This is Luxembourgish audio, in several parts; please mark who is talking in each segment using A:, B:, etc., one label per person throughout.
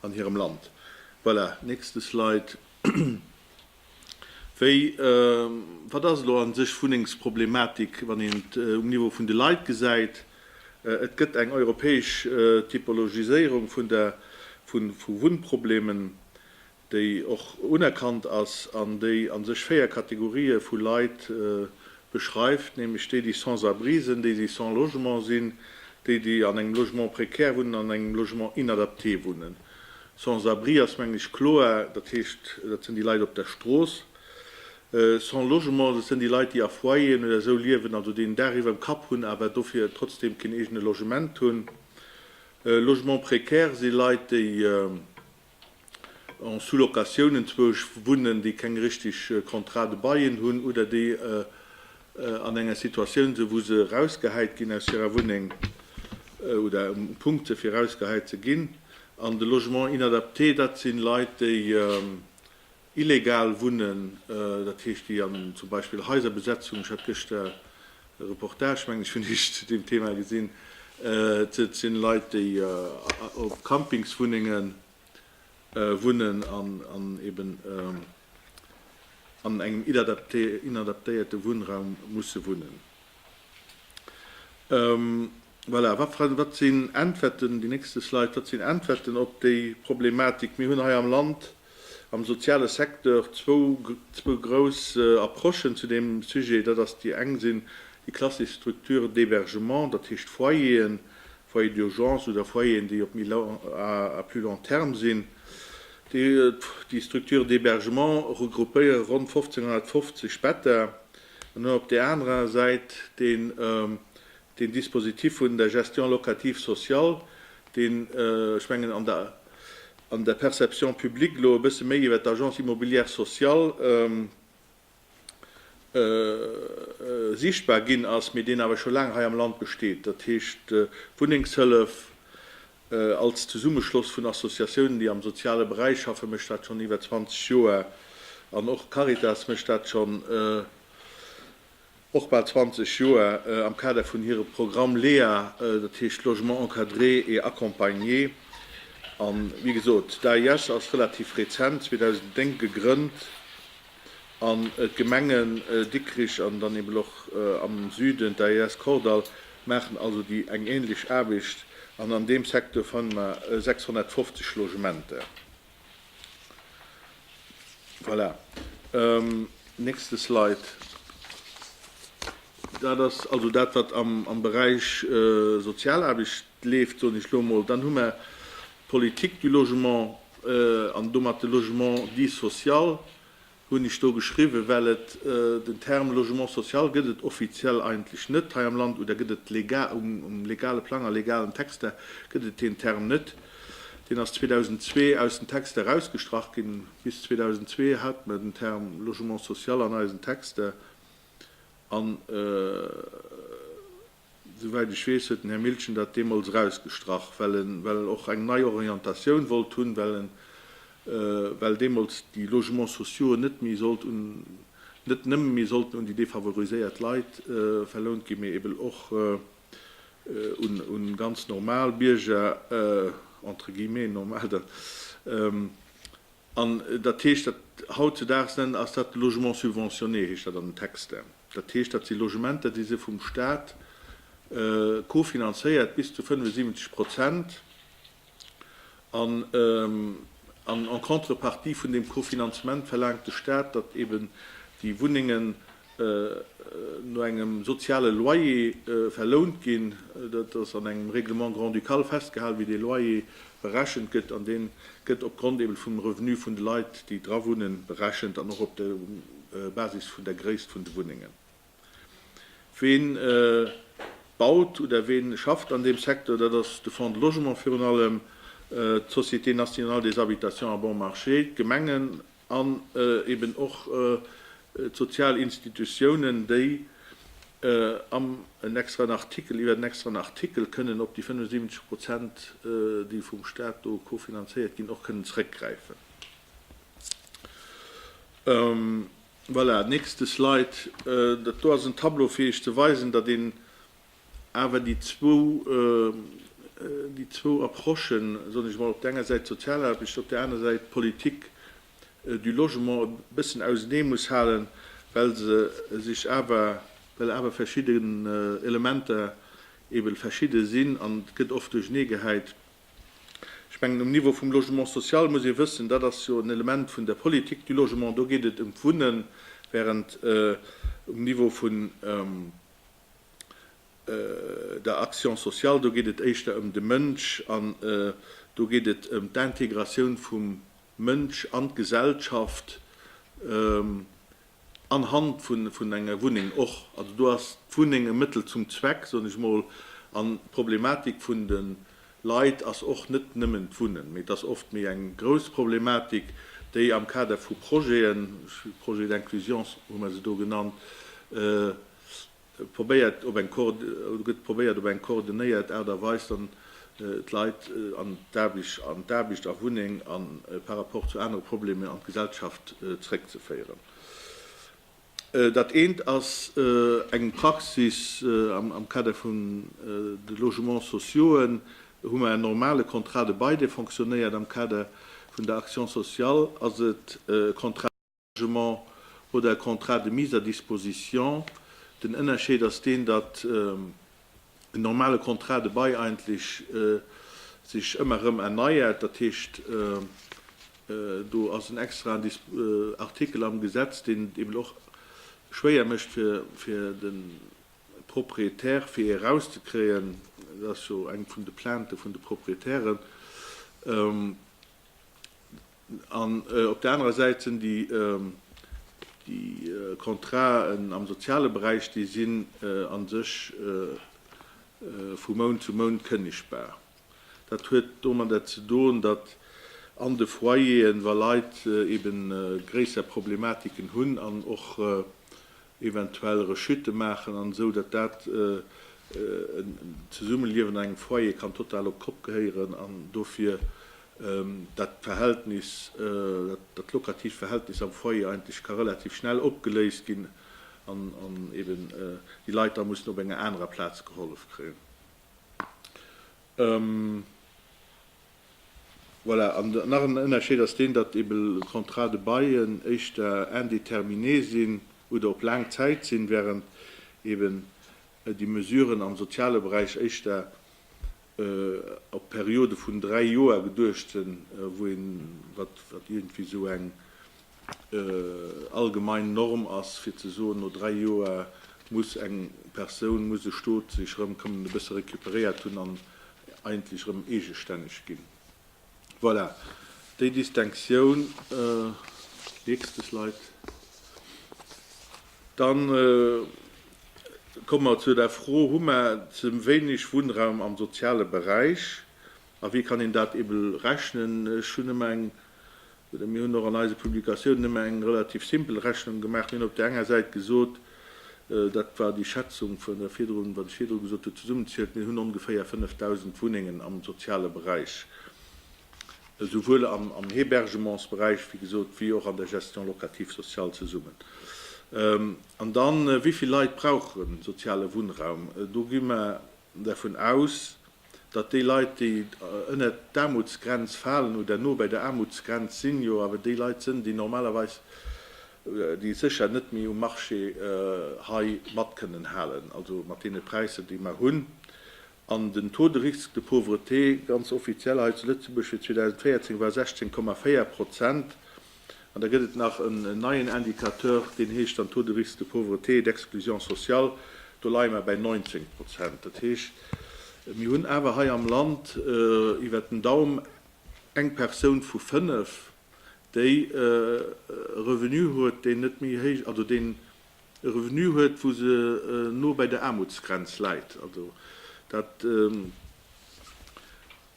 A: an hirem Land. Voilà, nächste Slide. Wéi, wat ass elo a sech d'Wunnengsproblematik, wann een et um Niveau vun de Leit gesäit? Et gëtt eng europäesch Typologiséierung vu Wunnproblemen, déi och unerkannt ass an déi a sech véier Kategorië vu Leit beschreift, nämlech déi, déi Sans-abri sinn, déi, déi sans logement sinn, déi, déi an engem Logement précaire wunnen an an engem Logement inadapté wunnen. Sans-abri ass, mengen ech, kloer, dat heescht, dat sinn déi Leit op der Strooss. Sans logement, dat sinn déi Leit, déi a Foyeren oder esou liewen, also déi en Daach iwwerm Kapp hunn, awer dofir trotzdeem keen eegene Logement hunn. Logement précaire si Leit, déi, en sous-location, enzwousch wunnen, déi keng richtig Contrat de bail hunn oder déi an enger Situatioun sinn, wou se erausgehäit ginn aus hirer Wunneng oder um Punkt se fir erausgehäit ze ginn. An de Logement inadapté, dat si Leit, déi Illegal wunnen, dat heescht déi an zum Beispill Haiserbesetzung, ech hat gëschter e Reportage, mengen ech, vun Iech zu deem Thema gesinn, et sinn Leit déi op Campingswunnenge wunnen an eben an engem inadaptéierte Wunnraum musse wunnen. Voilà, wat sinn Äntwerten, déi nächste Slide, wat sinn Äntwerten op déi Problematik? Mir hunn hei am Land am soziale Secteur zwou, zwou grouss Approchen zu deem Sujet. Dat ass, déi eng sinn déi klassesch Structures d'hébergement, dat heescht Foyeren, Foyer d'urgence oder Foyeren, déi op méi la, à plus long terme sinn. Déi, déi Structures d'hébergement regroupéiere ronn 1.550 Better an hunn op där anerer Säit dee, Deen Dispositif vun der Gestion locative sociale, deen, ech mengen, an der, an der Perception publique elo e bësse méi iwwert d'Agence immobilière sociale sichtbar ginn ass, mee deen awer scho laang hei am Land besteet, dat heescht d'Wunnengshëllef als Zesummeschloss vun Associatiounen, déi am soziale Beräich schaffen, mécht dat schonn iwwer 20 Joer an och d'Caritas mécht dat schonn. och bal 20 Joer am Kader vun hirem Programm Lea, dat heescht Logement encadré et accompagné. A wéi gesot, d'AIS ass relativ rezent, 2009 gegrënnt, an d'Gemenge Dikrich an dann eben och am Süden d'AIS Kordall maachen also déi eng änlech Aarbecht. An an deem Secteur fanne mer 650 Logementer. Voilà. Nächste Slide. Dat ass also dat, wat am, am Beräich Sozialaarbecht leeft, soen ech elo emol. Dann hu mer d'Politique du logement an domat de Logement dit social. Hunn ech do geschriwwen, well et den Term Logement social gëtt et offiziell eigentlech net hei am Land, oder gëtt et legal, um legale Plang, a legalen Texter gëtt et deen Term net. Deen ass 2002 aus den Texter erausgestrach ginn. Bis 2002 hat mer den Term Logement social an eisen Texter an. Souwäit ech weess, huet den Här Miltgen dat deemools erausgestrach, well e well och eng nei Orientatioun wollt hunn, well e well deemools déi Logements sociauxen net méi sollt un net nëmme méi sollten un déi defavoriséiert Leit verlount ginn, mee eben och un un ganz normal Bierger, entre guillemets normal, An dat heescht, dat hautzedaags nennen, ass dat Logement subventionné, heescht dat an den Texter. Dat heescht, dat si Logementer, déi si vum Stat cofinanzéiert, bis zu 75 Prozent, an en contrepartie vun deem Cofinanzement verlaangt de Stat, datt eeben déi Wunnengen no engem soziale Loyer verlount ginn. Dat ass an engem Règlement grand-ducal festgehal, wéi dee Loyer berechent gëtt, an dee gëtt opgrond eben vum Revenu vun de Leit, déi dra wunnen, berechent an och op der Basis vun der Gréisst vun de Wunnengen. Ween baut oder ween schafft an deem Secteur? Dat ass de Fonds de Logement virun allem, d'Société nationale des habitations à bon marché, d'Gemengen an eben och d'sozial Institutiounen, déi am en extraen Artikel iwwer en extraen Artikel kënnen op déi 75 Prozent, déi vum Stat do kofinanzéiert ginn, och kënnen zrëckgräifen. Voilà, nächste Slide. Dat do ass en Tableau, fir Iech ze weisen, datt een Awer déi zwou, déi zwou Approchen, soen ech emol, op der enger Säit d'Sozialaarbecht, op der anerer Säit d'Politik du Logement e bëssen ausenee muss halen, well se sech awer, well awer verschidden Elementer eeben verschidde sinn an et gëtt oft duerchenee gehäit. Ech mengen, um Niveau vum Logement social muss ee wëssen, dat ass jo en Element vun der Politik du Logement, do geet et ëm d'Wunnen, während um Niveau vun der Action sociale, do geet et éischter ëm de Mënsch an do geet et ëm d'Intégratioun vum Mënsch an d'Gesellschaft anhand vun enger Wunneng och. Also do ass d'Wunneng e Mëttel zum Zweck, soen ech emol, an d'Problematik vun de Leit ass och net nëmmen d'Wunnen, mee et ass oft méi eng grouss Problematik, déi am Kader vu Projeten, Projet d'inclusion hu mer se do genannt, Et gëtt probéiert op eng koordinéiert Aart a Weis dann d'Leit an d'Aarbecht a Wunneng a par rapport zu anere Problemer an d'Gesellschaft zeréckzeféieren. Dat eent ass eng Praxis, am Kader vun de Logements sociauxen hu mer en normale Contrat de bail dee fonctionnéiert, am Kader vun der Action sociale ass et e Contrat, Engagement oder e Contrat de mise à disposition. Den Ënnerscheed ass deen, datt en normale Contrat de bail eigentlech sech ëmmer erëm erneiert. Dat heescht, do ass en extraen Artikel am Gesetz, deen et eben och schwéier mécht fir de Propriétaire, fir ee erauszekréien. Dat ass jo eng vun de Plaintë vun de Propriétairen. An op där anerer Säit sinn déi Contraten am soziale Beräich, déi sinn a sech vu Mount zu Mount kënnegbar. Dat huet domadder ze doen, datt an de Foyeren, wa Leit eebe gréisser Problematiken hunn an och eventuell Rechute maachen an esou, datt dat en Zesummeliewen an engem Foyer kann total op d'Kopp gehéieren an dofir dat Verhältnis, dat lokatiivt Verhältnis am Foyer eigentlech ka relativ schnell opgeléist ginn an eben déi Leit da mussen op enger anerer Plaz gehollef kréien. Voilà, an nach en Ënnerscheed ass deen, datt ebe Contrats de bail éischter indéterminé sinn oder op laang Zäit sinn, während eben déi Mesuren am soziale Beräich éischter op Periode vun dräi Joer geduecht sinn, wou een, wat iergendwéi esou eng allgemein Norm ass, fir ze soen, no dräi Joer muss eng Persoun, muss e Stot sech erëm kënnen e bësse recuperéiert hunn an eigentlech erëm eegestänneg ginn. Voilà, déi Distinctioun. Nächste Slide. Dann komme mer zu der Fro, Hu mer ze wéineg Wunnraum am soziale Beräich a wéi kann een dat eebe rechnen? Ech hunn ëmmer eng Mir hunn och an eise Publikatiounen ëmmer eng relativ simpel Rechnung gemaach. Mir hunn op där enger Säit gesot, dat war déi Schätzung vun der virdrun, wat ech virdru gesot hunn, zesummenzielt, mir hunn ongeféier 5.000 Wunnengen am soziale Beräich, esouwuel am Hebergementsberäich, wéi gesot, wéi och an der Gestion locative sociale zesummen. An da wéi vill Leit brauchen soziale Wunnraum? Do gi mer dervun aus, datt déi Leit, déi ënnert d'Aarmutsgrenz falen oder no bei der Aarmutsgrenz sinn, jo awer déi Leit sënn, déi normalerweis, déi sécher net méi um Marché hei mat kënnen halen, also mat deene Präisser, déi mer hunn. An den Taux de risque de pauvreté, ganz offiziell hei zu Lëtzebuerg fir 2014, war 16,4 Prozent. An da gëtt et nach en neien Indicateur, deen heescht dann Taux de risque de pauvreté et d'exclusion sociale. Do leie mer bäi 19 Prozent. Dat heescht, mir hunn awer hei am Land iwwert den Daum eng Persoun vu fënnef, déi e Revenu huet, deen net méi héich, also deen e Revenu huet, wou se no bei der Aarmutsgrenz läit. Also dat.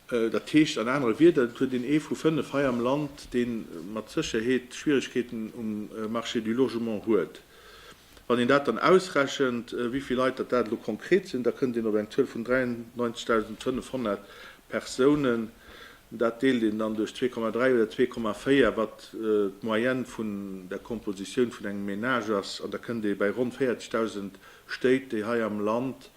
A: Dat heescht an anere Wierder, et huet een ee vu fënnef hei am Land, dee mat Sécherheet Schwieregkeeten um Marché du Logement huet. Wann een dat dann ausrechent, wéi vill Leit datt dat elo konkret sinn, da kënnt een op eng Zuel vun 93.500 Persounen. Dat deelt een dann duerch 2,3 oder 2,4, wat d'Moyenne vun der Kompositioun vun engem Menage ass, an da kënnt ee bei ronn 40.000 Stéit, déi hei am Land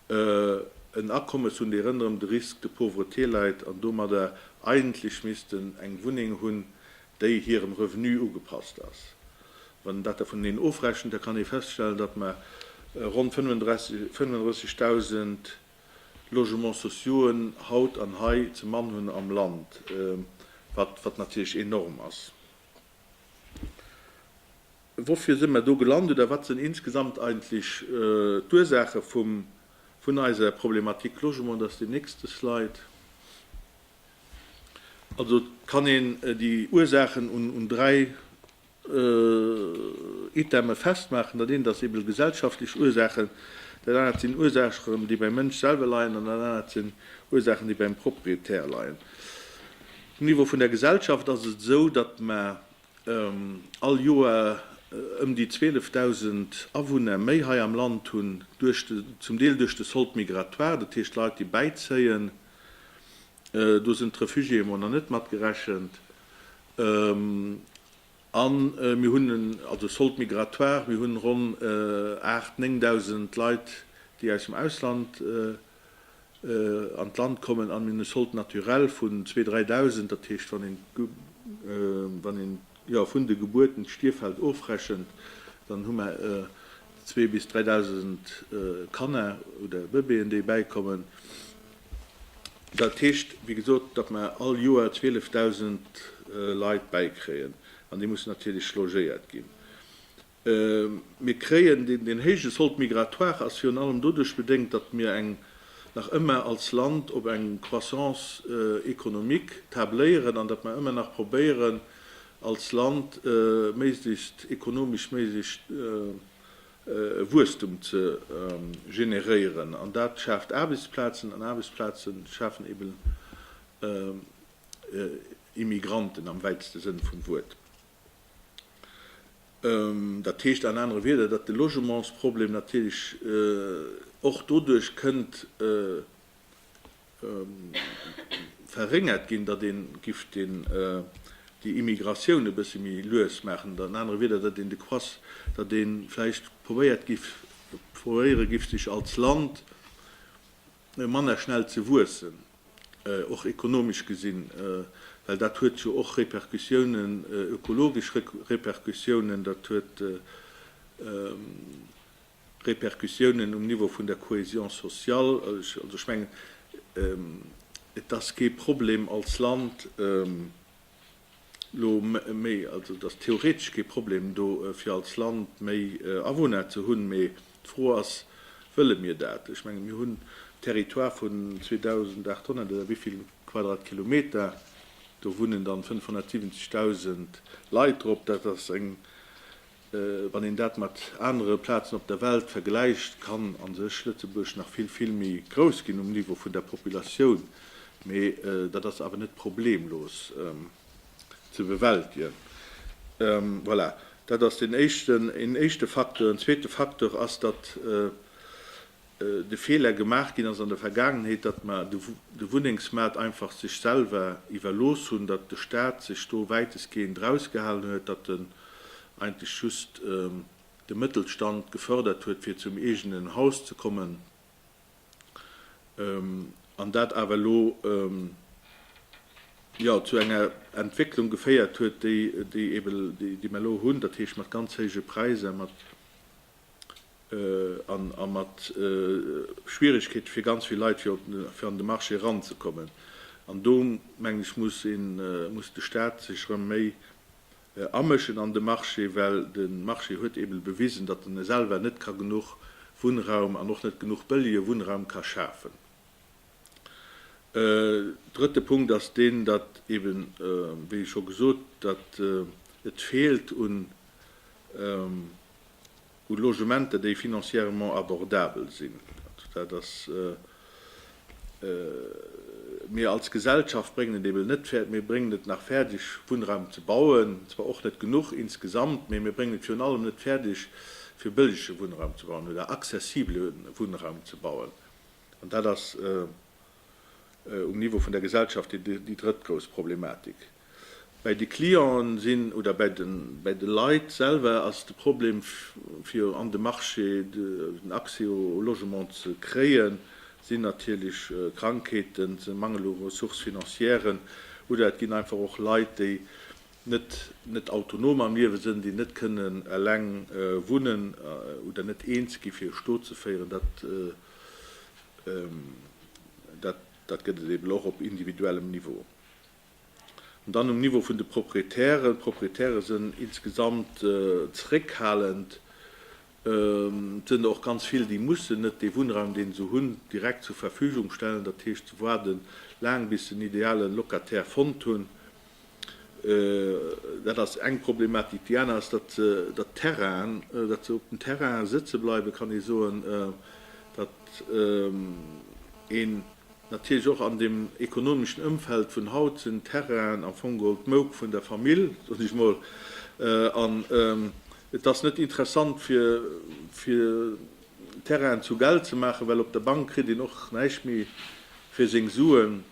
A: en Akommes hunn, déi rënderëm de Risque de pauvreté läit an domadder eigentlech missten eng Wunneng hunn, déi hirem Revenu ugepasst ass. Wann een dat da vuneneen ofrechent, da kann ee feststellen, datt mer ronn 35.000 Logements sociauxen haut an hei ze Mann hunn am Land, wat natierlech enorm ass. Woufir sinn mer do gelant oder wat sinn insgesamt eigentlech d'Ursaache vun eiser Problematik Logement? Dat ass déi nächste Slide. Also kann een déi Ursaachen un dräi Iteme festmaachen. Dat eent ass eeben gesellschaftlech Ursaachen, dat anert sinn Ursaachen, déi beim Mënsch selwer leien an dat anert sinn Ursaachen, déi beim Propriétaire leien. Um Niveau vun der Gesellschaft ass et esou, datt mer All Joer ëm déi 12.000 Awunner méi hei am Land hunn duerch de, zum Deel duerch de solde migratoire, dat heescht Leit déi bäizéien, do sinn d'Refugiéë emol nach net mat gerechent, a mir hunn en, also solde migratoire, mir hunn ronn 8, 9.000 Leit déi aus dem Ausland An d'Land kommen an mir sollt naturell vun zwee, dräi Dausend, dat heescht wann een wann een vun de Gebuerten d'Stierfeld ofrechent, dann hu mer zwee bis dräi Dausend Kanner oder Bëbeeën, déi bäikommen. Dat heescht, wéi gesot, datt mer all Joer 12 Dausend Leit bäikréien an déi mussen natierlech logéiert ginn. Mir kréien, deen héije Solde migratoire ass virun allem doduerch bedéngt, datt mir eng, nach ëmmer als Land, op eng Croissance économique tabléieren an datt mer ëmmer nach probéieren, als Land méiglechst ekonomesch méiglechst Wuesstum ze generéieren. An dat schaaft Aarbechtsplazen an Aarbechtsplaze schafen eben Immigranten am wäitste Sënn vum Wuert. Dat heescht an anere Wieder, datt de Logementsproblem natierlech och doduerch kënnt verréngert ginn, datt ee giff déi Immigratioun e bësse méi lues maachen, an anere Wieder, datt een de Quass, datt ee vläicht probéiert giff, probéiere giff sech als Land manner schnell ze wuessen, och ekonomesch gesinn, well dat huet jo och Repercussiounen, ökologesch Repercussiounen, dat huet Repercussiounen um Niveau vun der Cohésion sociale. Also ech mengen, et ass kee Problem als Land, lo méi, also et ass theoretesch kee Problem do fir als Land méi Awunner ze hunn, mee d'Fro ass, wëlle mir dat? Ech menge mir hunn en Territoire vun 2.800 oder wivill Quadratkilometer, do wunnen dann 570.000 Leit drop, dat ass eng Wann een dat mat anere Plazen op der Welt vergläicht, kann a sech Lëtzebuerg nach vill, vill méi grouss ginn um Niveau vun der Populatioun, mee dat ass awer net problemlos ze bewältegen. Voilà, dat ass deen éischten, een éischte Facteur. En zweete Facteur ass, datt de Feeler gemaach ginn ass an der Vergaangenheet, datt mer de Wunnengsmaart einfach sech selwer iwwerlooss hunn, datt de Staat sech do wäitestgehend erausgehalen huet, datt en eigentlech just de Mëttelstand gefërdert huet, fir zum eegenen Haus ze kommen, an dat awer elo, jo, zu enger Entwécklung geféiert huet, déi mer elo hunn, dat heescht mat ganz héije Präisser, mat. a mat Schwierigkeete fir ganz vill Leit, fir an de Marché eranzekommen. An do, mengen ech, muss een, muss de Stat sech erëm méi amëschen an de Marché, well de Marché huet eeben bewisen, datt en selwer net ka genuch Wunnraum an och net genuch bëllige Wunnraum ka schafen. Drëtte Punkt ass deen, datt eeben, wéi scho gesot, datt et feelt un u Logementer, déi financièrement abordabel sinn. Dat ass, mir als Gesellschaft bréngen et eben net, mir bréngen et nach fäerdeg, Wunnraum ze bauen, zwar och net genuch insgesamt, mee mir bréngen et virun allem net fäerdeg, fir bëllige Wunnraum ze bauen oder accessibele Wunnraum ze bauen. An dat ass um Niveau vun der Gesellschaft déi drëtt grouss Problematik. Bäi de Clienten sinn, oder bäi de Leit selwer ass de Problem, fir an de Marché, den Accès au Logement ze kréien, sinn natierlech Krankheeten, de Mangel u Ressources financièren, oder et ginn einfach och Leit, déi net autonom am Liewe sënn, déi net kënnen eleng wunnen oder net eens gi fir e Stot ze féieren. Dat gëtt et eben och op individuellem Niveau. An dann um Niveau vun de Proprietären. D'Proprietäre sënn insgesamt zréckhalend. Et sënn der och ganz vill, déi mussen net dee Wunnraum, deen se hunn, direkt zur Verfügung stellen. Dat heescht, se waarde laang, bis se en ideale Locataire fonnt hunn. Dat ass eng Problematik. Déi aner ass, datt se dat Terrain, datt se op den Terrainen sëtze bleiwen, kann ee soen, datt een, Natierlech och an dem ekonomeschen Ëmfeld vun haut sinn d'Terrainen am Fong geholl d'Mouk vun der Famill, soen ech mol, an et ass net interessant fir Terrainen zu Geld ze maachen, well op der Bank kritt een och näischt méi fir seng Suen.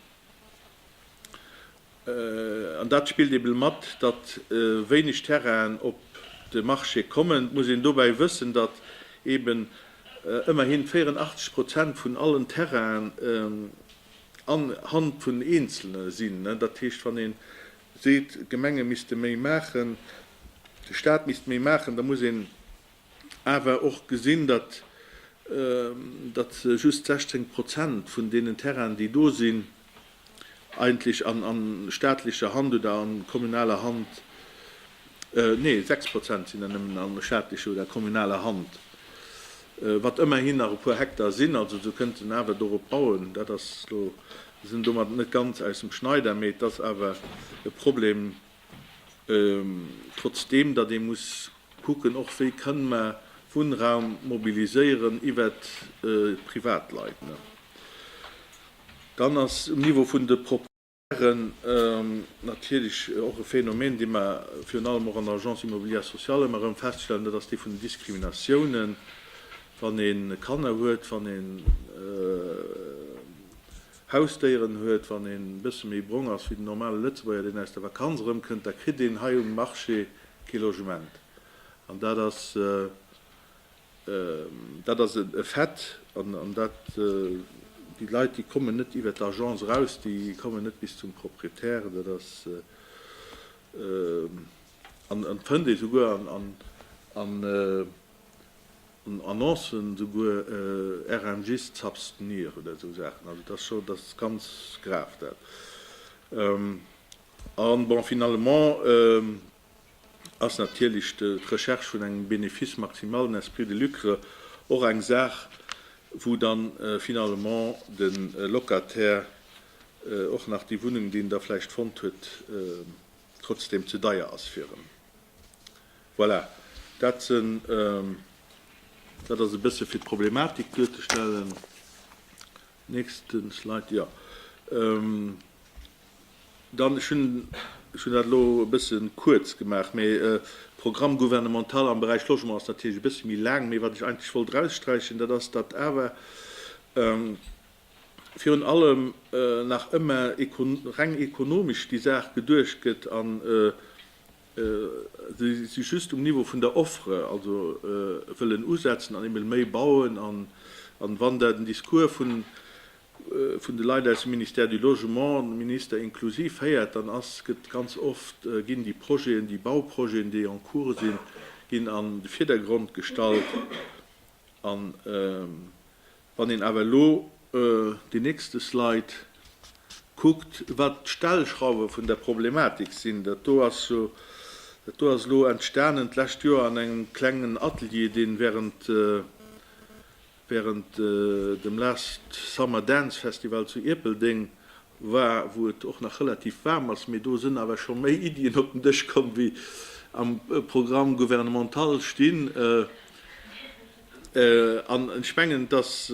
A: An dat spillt eben mat, datt wéineg Terrainen op de Marché kommen. Et muss een dobäi wëssen, datt eben ëmmerhin 84 Prozent vun allen Terrainen an Hand vun Eenzelne sinn. Dat heescht, wann ee seet, d'Gemenge misste méi maachen, de Staat misst méi maachen, da muss een, awer och gesinn, datt just 16 Prozent vun deenen Terrainen, déi do sinn, eigentlech a staatlecher Hand oder a kommunaler Hand, nee, 6 Prozent sinn der nëmmen a staatlecher oder kommunaler Hand, wat ëmmerhin nach e puer Hektar sinn. Also se kënnten awer dorop bauen. Dat ass elo, se sinn domat net ganz aus dem Schneider, mee et ass awer e Problem, Trotzdeem datt ee muss kucken och, wéi kënn mä Wunnraum mobiliséieren iwwert d'Privatleit, dann ass um Niveau vun de Propriétaires natierlech och e Phänomen, dee mer virun allem och an der Agence immobilière sociale ëmmer erëm feststellen, dat ass dee vun den Diskriminatiounen, wann ee Kanner huet, wann ee Hausdéieren huet. Wann een e bësse méi brong ass wéi den normale Lëtzebuerger, deen aus der Vakanz erëmkënnt, da kritt een hei um Marché kee Logement. An dat ass, dat ass e Fait. An dat, déi Leit, déi kommen net iwwer d'Agence eraus, déi kommen net bis zum Proprietär. Dat ass, an et fënnt ee souguer an un Annoncen souguer RMGs z'abstenir oder esou Saachen. Also et ass scho, et ass ganz grav dat. A bon, finalement ass natierlech d'Recherche vun engem Bénéfice maximal, en esprit de lucre, och eng Saach, wou dann finalement de Locataire och nach déi Wunnung, déi en da vläicht fonnt huet, trotzdem ze deier ass fir en. Voilà, dat sen, dat ass e bësse fir d'Problematik duerzestellen. Nächste Slide, jo. Dann, ech hunn, ech hunn dat elo e bësse kuerz gemaach, mee de Programme gouvernemental am Beräich Logement ass natierlech e bësse méi laang. Mee wat ech eigentlech wollt eraussträichen, dat ass, datt awer virun allem nach ëmmer reng ekonomesch déi Saach geduecht gëtt an Si si just um Niveau vun der Offre, also wëllen usetzen an eemol méi bauen. A wann da den Discours vun de Leit aus dem Ministère du Logement, de Minister inklusiv, héiert, dann ass, gëtt ganz oft, ginn déi Projeten, déi Bauprojeten, déi en cours sinn, ginn an de Virdergrond gestallt. An Wann een awer elo deen nächste Slide kuckt, wat d'Stellschrauwe vun der Problematik sinn, dat do ass jo, dat do ass elo entstanen d'lescht Joer an engem klengen Atelier, dee während, während dem Last Summer Dance Festival zu Ierpeldeng war, wou et och nach relativ waarm ass, mee do sinn awer scho méi Iddien op den Dësch komm, wéi am Programme gouvernemental stinn. An ech mengen, dass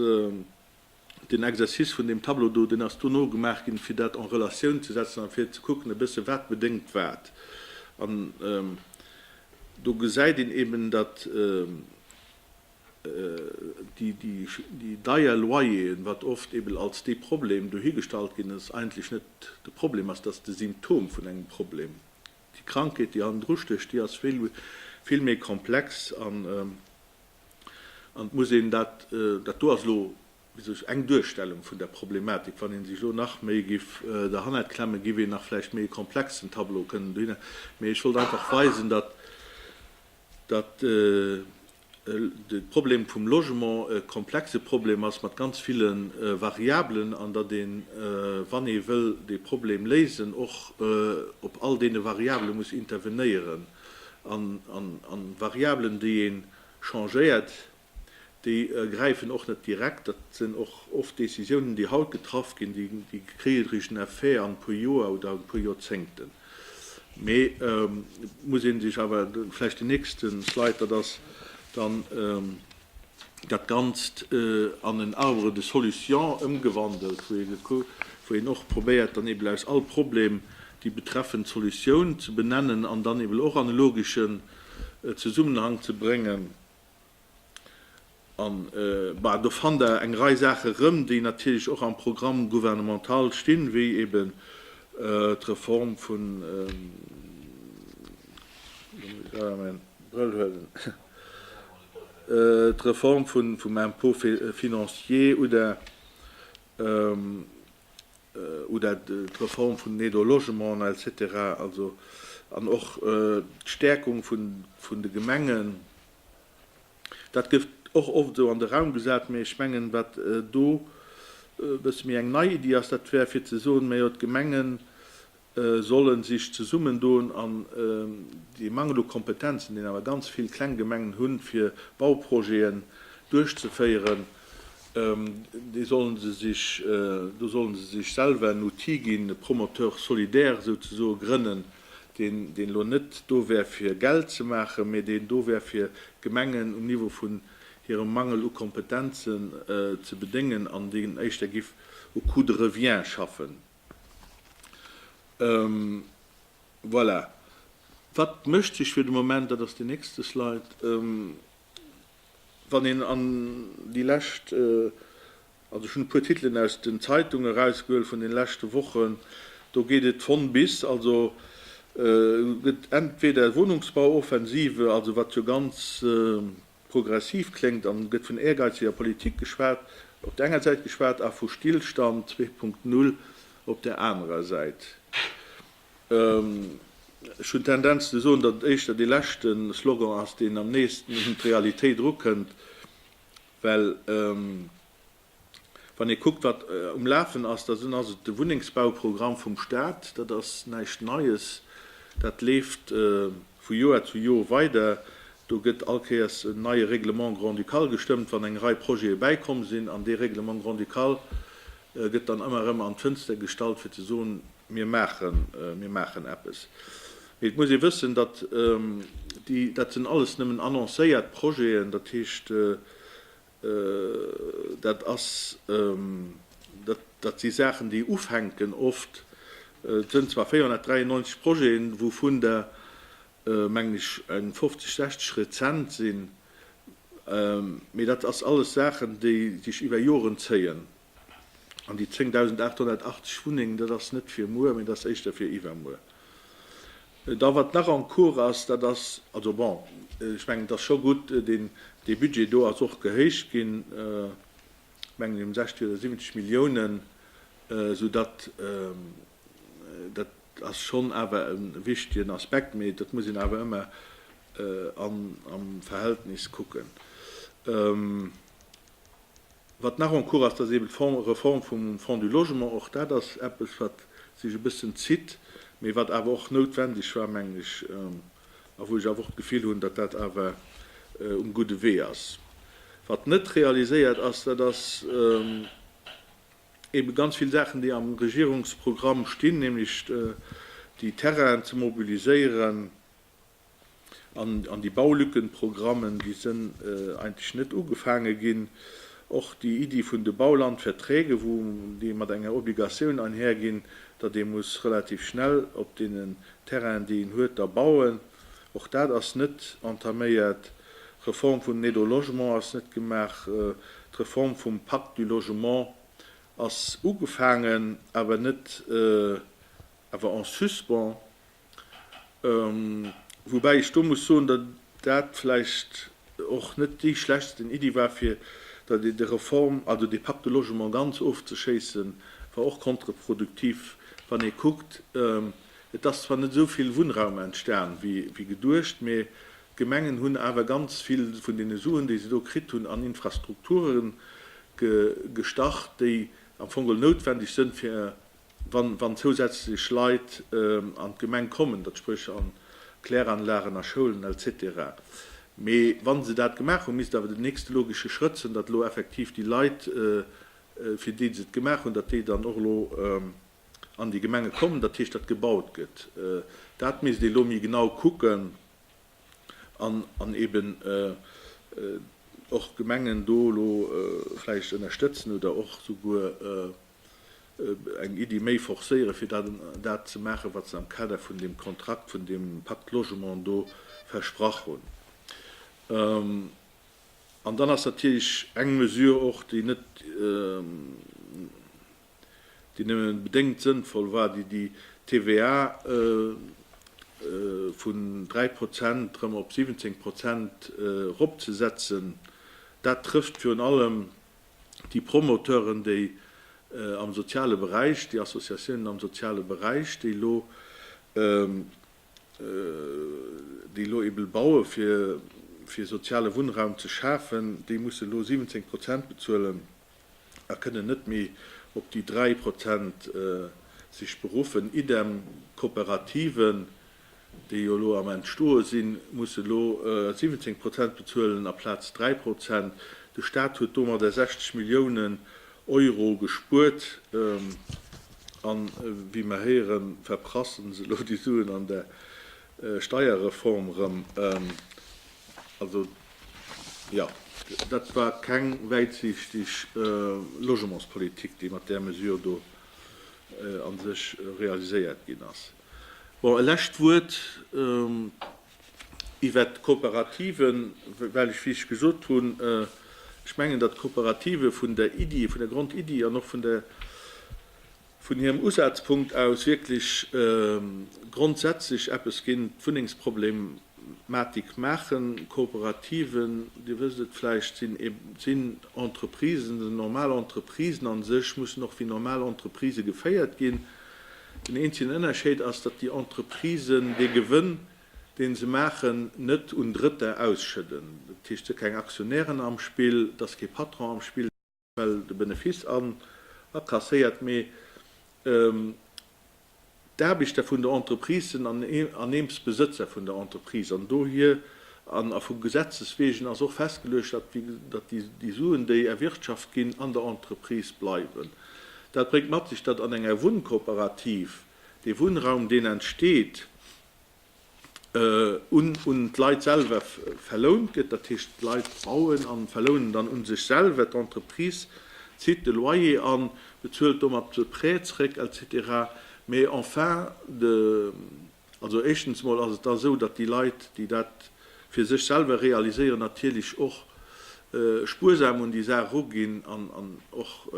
A: den Exercice vun deem Tableau do, deen ass dono gemaach ginn, fir dat en Relatioun ze setzen a fir ze kucken e bësse wat bedéngt wat. An do gesäit een eeben, datt déi deier Loyeren, wat oft eeben als dee Problem dohi gestallt ginn ass, eigentlech net de Problem ass, datt ass de Symptom vun engem Problem. Déi Krankheet, déi hannen dru stécht, déi ass vill, vill méi komplex an, an et muss een dat, dat do ass elo, wéi soll ech, eng Duerstellung vun der Problematik, wann ee sech elo nach méi giff derhannert klemmen, giff een nach vläicht méi e komplexen Tableau kënnen dohinner, mee ech wollt einfach weisen, datt, datt de Problem vum Logement e komplexe Problem ass mat ganz ville Variablen an datt een, wann ee wëll dee Problem léisen, och op all deene Variabele muss intervenéieren. An Variabelen, déi ee changéiert, déi gräifen och net direkt. Dat sinn och oft Decisiounen, déi haut getraff ginn, déi kréien e richtegen Effet an e puer Joer oder e puer Joerzéngten. Mee et muss ee sech awer, vläicht den nächste Slide, dat ass dann dat Ganzt, an en Arbre de solution ëmgewandelt, wou een och probéiert dann eben aus all Problem déi betreffend Solutioun ze benennen an dann eben och an e logeschen Zesummenhang ze bréngen. An, bah, do fannt Der eng Rei Saache erëm, déi natierlech och am Programme gouvernemental stinn, wéi eben d'Reform vun, elo muss ech selwer mäin Brëll huelen, d'Reform vum Impôt financier oder, oder d'Reform vun den Aides au logement, et cetera. Also, an och d'Stärkung vun de Gemengen. Dat gëtt och oft esou an de Raum gesat, mä ech mengen, wat do e bësse méi eng nei Iddi ass, dat wär fir ze soen, mä jo, d'Gemenge solle sech zesummendoen an dee Mangel u Kompetenzen, deen awer ganz vill kleng Gemengen hunn, fir Bauprojeten duerchzeféieren, dee sollen se sech, do sollen se sech selwer en Outil ginn, e Promoteur solidaire esou ze soen, grënnen. deen elo net do wär fir Geld ze maachen, mee deen do wär fir d'Gemengen um Niveau vun hirem Mangel u Kompetenzen ze bedéngen an deen éischter giff u Coût de revient schaffen. Voilà. Wat mécht sech fir de Moment, dat ass déi nächste Slide, wann een an déi lescht Also ech hunn e puer Titelen aus den Zeitunge erausgehuel vun den leschte Wochen. Do geet et von bis. Also gëtt entweder Wunnungsbauoffensive, also wat jo ganz progressiv kléngt, an gëtt vun ehrgeiziger Politik geschwat op der enger Säit geschwat a vu Stillstand 2.0 op der anerer Säit. Ech hunn d'Tendenz ze soen, datt et éischter dee leschte Slogan ass, deen am neesten un d'Realitéit erukënnt. Well wann ee kuckt, wat um Lafen ass, da ass et de Wunnengsbauprogramm vum Staat. Dat ass näischt Neies. Dat leeft vu Joer zu Joer weider. Do gëtt all Kéiers en neie Règlement grand-ducal gestëmmt, wann eng Rei Projete bäikomm sinn. An dee Règlement grand-ducal gëtt dann ëmmer erëm an d'Fënster gestallt, fir ze soen, Mir maachen, mir maachen eppes. Mee et muss ee wëssen, datt déi, dat sinn alles nëmmen annoncéiert Projeten. Dat heescht, dat ass, dat si Saachen, déi ufänken oft. Et sënn zwar 493 Projeten, wouvun der, mengen ech, eng 50, 60 rezent sinn. Mee dat ass alles Saachen, déi sech iwwer Joren zéien. An déi 10.880 Wunnengen, dat ass net fir muer, mee dat ass éischter fir iwwermuer. Da wat nach en cours ass, dat ass, also bon, ech mengen, et ass scho gutt, deen, dee Budget do ass och gehéicht ginn, ech mengen ëm 60 oder 70 Milliounen, soudatt, dat ass schonn awer e wichtegen Aspekt, mee dat muss een awer ëmmer am Verhältnis kucken. Wat nach en cours ass, dat ass eben d'Reform vum Fonds du Logement. Och dat ass eppes, wat sech e bëssen zitt, mee wat awer och noutwendeg war, mengen ech, a wou ech awer och d'Gefill hunn, datt dat awer um gudde Wee ass. Wat net realiséiert ass, dat ass eben ganz vill Saachen, déi am Regierungsprogramm stinn, nämlech déi Terrainen ze mobiliséieren, An déi Baulückenprogrammen, déi sënn eigentlech net ugefaange ginn. Och déi Iddi vun de Baulandverträge, wou déi mat enger Obligatioun einher ginn, datt ee muss relativ schnell op deenen Terrainen, déi een huet, da bauen, och dat ass net entaméiert. D'Reform vun den Aides au logement ass net gemaach. D'Reform vum Pacte du logement ass ugefaangen, awer net, awer en suspens. Woubäi ech do muss soen, datt dat vläicht och net déi schlechtsten Iddi war, fir datt ee de Reform also de Pacte de logement ganz ofzeschéissen, war och kontreproduktiv, wann ee kuckt, et ass zwar net esou vill Wunnraum entstan wéi geduecht, mee d'Gemengen hunn awer ganz vill vun deene Suen, déi se do kritt hunn, an Infrastrukture gestach, déi am Fong geholl noutwendeg sënn, fir wann zousätzlech Leit an d'Gemeng kommen, dat spréch an Kläranlagen, a Schoulen etc. Mee wa se dat gemaach hunn, misst awer den nächste logesche Schrëtt sinn, datt elo effektiv déi Leit, fir déi se et gemaach hunn, datt déi dann och elo an déi Gemenge kommen, dat heescht, datt gebaut gëtt. Dat misst ee elo méi genau kucken an eben och d'Gemengen do elo vläicht ënnerstëtzen oder och souguer, eng Iddi méi forcéieren, fir dat dat ze maachen, wat se am Kader vun deem Kontrakt, vun deem Pacte Logement do versprach hunn. An dann ass natierlech eng Mesure och, déi net, déi nëmme bedéngt sënnvoll war, déi déi TVA vun dräi Prozent erëm op 17 Prozent eropzesetzen. Dat trëfft virun allem déi Promoteuren, déi am soziale Beräich, déi Associatiounen am soziale Beräich, déi elo, déi elo ebe baue fir, fir soziale Wunnraum ze schafen, déi musse elo 17 Prozent bezuelen a kënnen net méi op déi 3 Prozent sech beruffen. Idem d'Kooperativen, déi jo elo am Entstoe sinn, musse elo 17 Prozent bezuelen aplaz 3 Prozent. De Staat huet domadder 60 Milliounen Euro gespuert. A wéi mer héieren, verprassen se elo déi Suen an der Steierreform erëm. Also, jo, dat war keng wäitsiichteg Logementspolitik, déi mat där Mesure do a sech realiséiert ginn ass. Bon, e lescht Wuert iwwert d'Kooperativen, well ech, wéi ech gesot hunn, ech mengen, datt d'Kooperative vun der Iddi, vun der Grondiddi an och vun der, vun hirem Usazpunkt aus wierklech grondsätzlech eppes géint d'Wunnengsproblem Matik maachen. Kooperativen, Dir wësst et vläicht, sinn sinn Entreprisen, sinn normal Entreprisen a sech, mussen och wéi normal Entreprise geféiert ginn. Den eenzegen Ënnerscheid ass, datt déi Entreprisen dee Gewënn, dee se maachen, net un Drëtter ausschëdden. Dat heescht, et si keng Aktionären am Spill, et ass kee Patron am Spill. well de Benefice an akasséiert, mee d'Aarbechter vun der Entreprise sinn an aneems Besëtzer vun der Entreprise an dohier, an a vu Gesetzes wegen ass och festgeluecht, datt déi Suen, déi erwirtschaft ginn, an der Entreprise bleiwen. Dat bréngt mat sech, datt an enger Wunnkooperativ dee Wunnraum, deen entsteet, un d'Leit selwer verlount gëtt, dat heescht d'Leit bauen a verlounen dann un sech selwer, d'Entreprise zitt de Loyer an, bezuelt domat de Prêt zréck et cetera. Mais en fin de, also éischtens mol ass et da sou, datt déi Leit, déi dat fir sech selwer realiséieren, natierlech och spuersam un déi Saach eruginn an och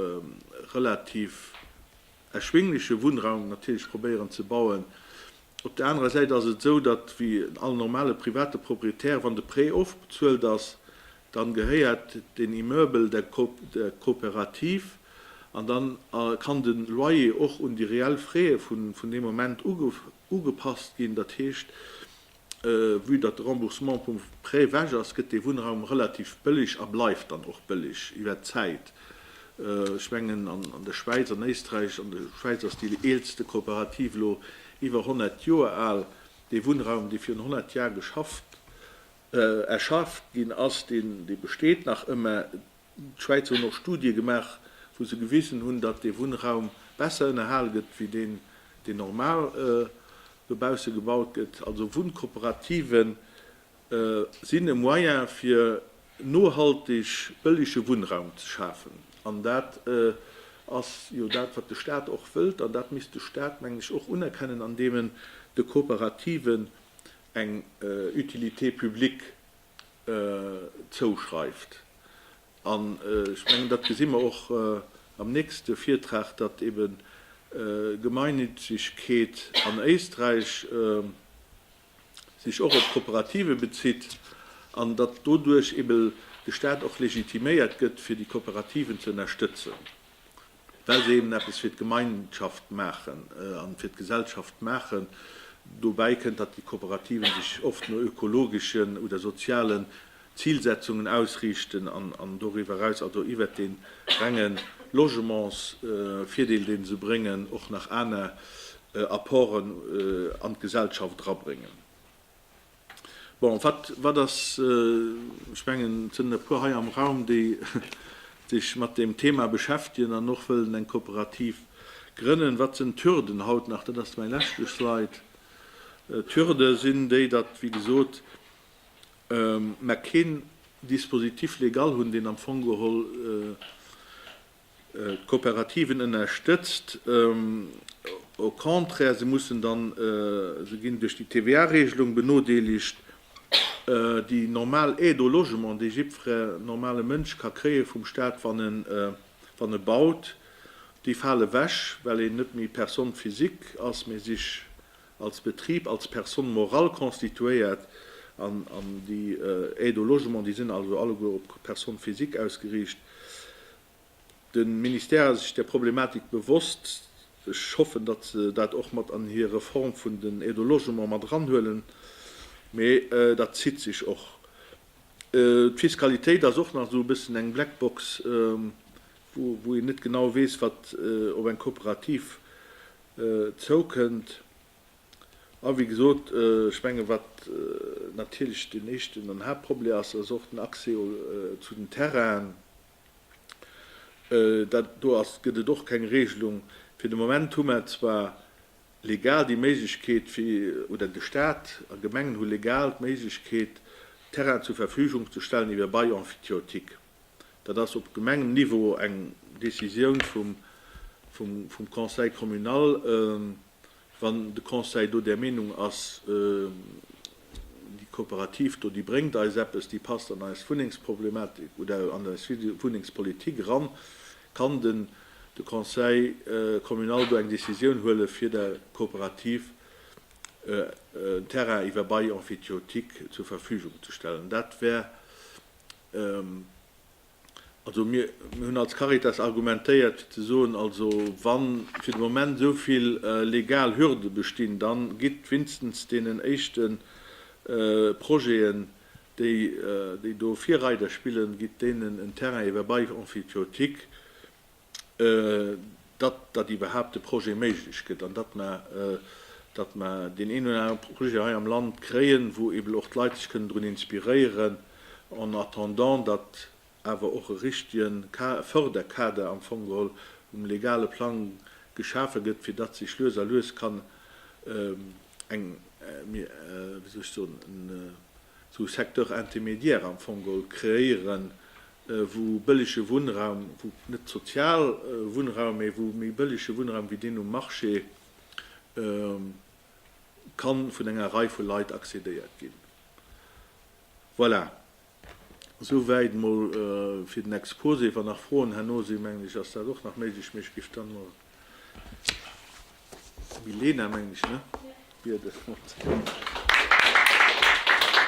A: relativ erschwingleche Wunnraum natierlech probéieren ze bauen. Op der anerer Säit ass et esou, datt wéi all normale private Proprietär, wann de Prêt ofbezuelt ass, dann gehéiert den Immeuble der Coopérative an dann kann de Loyer och un déi reell Frais vun deem Moment ugepasst ginn. Dat heescht, vue datt de Remboursement vum Prêt wech ass, gëtt dee Wunnraum relativ bëlleg a bleift dann och bëlleg iwwert d'Zäit. Ech mengen an der Schwäiz, an Éisträich, an der Schwäiz ass déi eelste Kooperativ elo iwwer 100 Joer al, dee Wunnraum, dee virun 100 Jar geschafft, erschafft ginn ass, deen, dee besteet nach ëmme. D'Schwäizer hunn och Studie gemaach, wou se gewisen hunn, datt dee Wunnraum besser ënnerhal gëtt wéi deen, deen normal dobausse gebaut gëtt. Also Wunnkooperative sinn e Moyen fir nohalteg bëllege Wunnraum ze schafen. An dat ass jo dat, wat de Stat och wëllt. An dat misst de Stat, mengen ech, och unerkennen, andeem en de Kooperativen eng Utilité publique zouschreift. An ech mengen, dat gesi mer och am nächste Virtrag, datt eebe Gemeinnützigkeet an Éisträich sech och op d'Kooperativen bezitt an datt doduerch ebe de Staat och legitiméiert gëtt, fir déi Kooperativen ze ënnerstëtzen, well se eben eppes fir d'Gemeinschaft maachen a fir d'Gesellschaft maachen. Dobäi kënnt, datt déi Kooperativen sech oft no ökologeschen oder soziale Zilsetzungen ausriichten an doriwwer eraus, also iwwert dee renge Logementsvirdeel, dee se bréngen, och nach aner Apporten an d'Gesellschaft erabréngen. Bon, wat ass, ech mengen, et sinn e puer hei am Raum, déi sech mat deem Thema beschäftegen an och wëllen eng Kooperativ grënnen, wat sinn d'Hürden haut nach? Dat ass mäi leschte Slide. D'Hürde sinn déi, datt, wéi gesot, mä keen Dispositif légal hunn, deen am Fong geholl d'Kooperativen ënnerstëtzt. Au contraire, se mussen dann, se ginn duerch déi TVA-Regelung benodeelegt, déi normal Aide au logement, déi jiddfere normale Mënsch ka kréie vum Staat, wann e baut, déi fale wech, well een net méi Personne physique ass, mä sich als Betrib, als Personne morale constituéiert, an déi Aides au logement, déi sinn also alleguer op d'Personne physique ausgeriicht. De Ministère ass sech där Problematik bewosst. Ech hoffen, datt se dat och mat an hir Reform vun den Aides au logement mat eranhuelen, mee dat zitt sech och. D'Fiskalitéit ass och nach esou e bëssen eng Blackbox, wou een net genau weess, wat op eng Kooperativ zoukënnt. A wéi gesot, ech mengen, wat natierlech deen éischten an Haaptproblé ass, ass och den Accès zu den Terrainen. Dat do ass, gëtt et och keng Regelung. Fir de Moment hu mer zwar legal déi Méiglechkeet fir, oder de Stat a Gemengen hu legal d'Méiglechkeet, Terrainen zur Verfügung ze stellen iwwer Bail emphytiotique. Dat ass op Gemengen Niveau eng Décisioun vum Conseil communal. Wann de Conseil do där Meenung ass, déi Kooperativ do, déi bréngt eis eppes, déi passt an eis Wunnengsproblematik oder an eis Wunnengspolitik eran, kann den de Conseil communal do eng Décisioun huele fir der Kooperativ en Terrain iwwer Bail emphytiotique zur Verfügung ze stellen. Dat wär Also mir hunn als Caritas argumentéiert fir ze soen, also wa fir de Moment esou vill legal Hürde bestinn, da gitt winstens deenen éischte Projeten, déi do Virreider spillen, gitt deenen en Terrain iwwer Bail emphytiotique. datt datt iwwerhaapt de Projet méiglech gëtt an datt mer datt mer deen een oder anere Projet hei am Land kréien, wou eeben och d'Leit sech kënnen drun inspiréieren, en attendant datt awer och e richtege Förderkader am Fong geholl um legale Plang geschafe gëtt, fir datt sech lues a lues kann eng, wéi soll ech soen, esou Secteur intermédiaire am Fong geholl kreéieren, wou bëllege Wunnraum, wou net sozial Wunnraum, mä wou méi bëllege Wunnraum wéi deen um Marché ka vun enger Rei vu Leit accédéiert ginn. Voilà, esouwäit mol fir den Exposé. Wann nach Froen herno sinn, mengen ech, ass dat och nach méiglech, mä ech géif dann mol d'Milena, mengen ech, ne? Bieden.